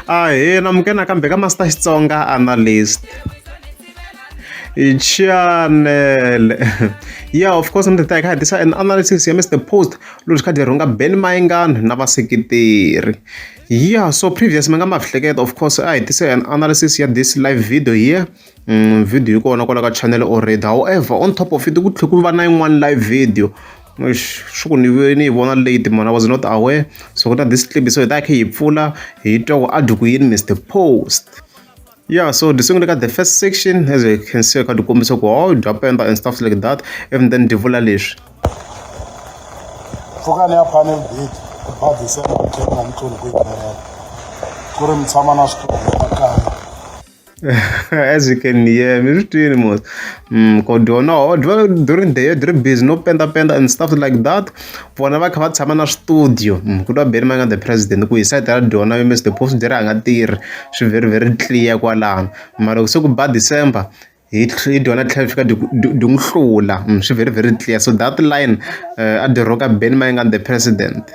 Ahee namuke nakambe ka Master Xitsonga Analyst. Channel. yeah, of course, ndzi ta hi kha hi tisa an analysis ya Mr Post loyi kha rhunga Ben Mayengani na vaseketeri. Yeah, so previous mi nga ma hleketa of course a hi tise an analysis ya this live video here Vhidiyo yi kona kwala ka channel already however on top of it ku tlhe ku va na yin'wani live video eish swi ku ni ve ni yi vona late mhani I was not aware so ku na this clip so hi ta hi kha hi yi pfula hi twa ku a dyi ku yini Mister Post ya so dyi sungule ka the first section as you can see kha dyi kombisa ku hawu bya penda and stuff like that even then dyi vula leswi. Pfukani ya panel beat ku ba December ku tlhela na mixulu ku yi ku ri mi tshama na switulu ekaya. As you can hear, mi swi twini mos mm, ku dyo no dyo during the year dyi ri busy no pendapenda and stuff like that vona va kha va tshama na studio mm, ku twa beni manga the president ku hi site ra dyona mr the post dyi ri a nga tirhi swi very very clear kwalano mara loko se ku ba december hi hi dyona tlhela fika dyi n'wi hlula mm, swi very very clear so that line uh, a dyi roka beni manga the president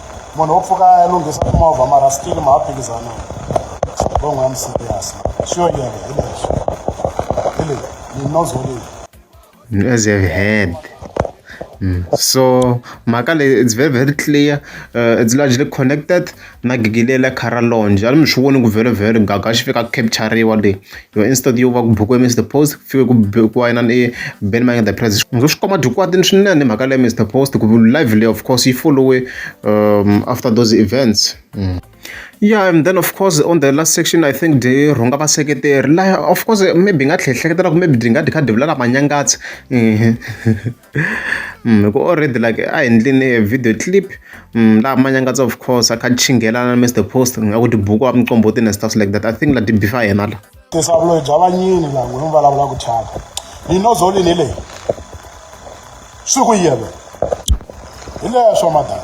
munhu wo pfuka ya lunghisa timovha mara still ma ha phikizana bongo ya muserious sure yena hi leswi hi leyi ni nozo leyi as you have heard Mm. so mhaka leyi it's very very clear uh, it's largely connected na gigi leyi la khara lonje a ni mi swi voni ku vhele vhele gaga xi fika capturiwa leyi yo instead yo va ku bukiwe Mister Post ku fike ku bukiwa yena ni Ben Mayenge the Prez ndzo swi khoma dyikwatini swinene mhaka leya Mister Post ku live leyi of course yi followe um, after those events mm. yeah and then of course on the last section i think dyi rhunga vaseketeri laha of course maybe hi nga tlhe hleketela ku maybe dyi nga dyi kha dyi vulela manyangatsi hi ku already like a hi endleni video clip laha manyangatsa of course a kha chinghelana na mr post nga ku tibuku wa micombotini and stuff like that i think la tibi fa yena la tisavuloyi bya vanyini la n'wini vulavula ku thyaka ni nozolini leyi swi ku yele hi leswo madala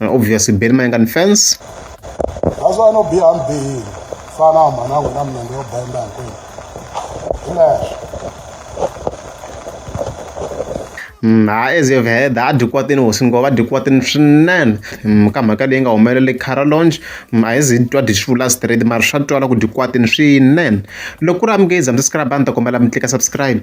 obviously beni mayenga ni fence naswona no biha mi bihile fana u mhana wena minenge yo benda hinkwenu hi leswo mm, ha as you've heard ha dyikwatini hosi ngo va dyikwatini swinene mm, ka mhaka leyi nga humelele cara longe mm, a hi zi twa dyi swi vula straight mara swa twala ku dyikwatini swinene loko ku ri amukezi hambi subscribe a ni ta kombela mi tlika subscribe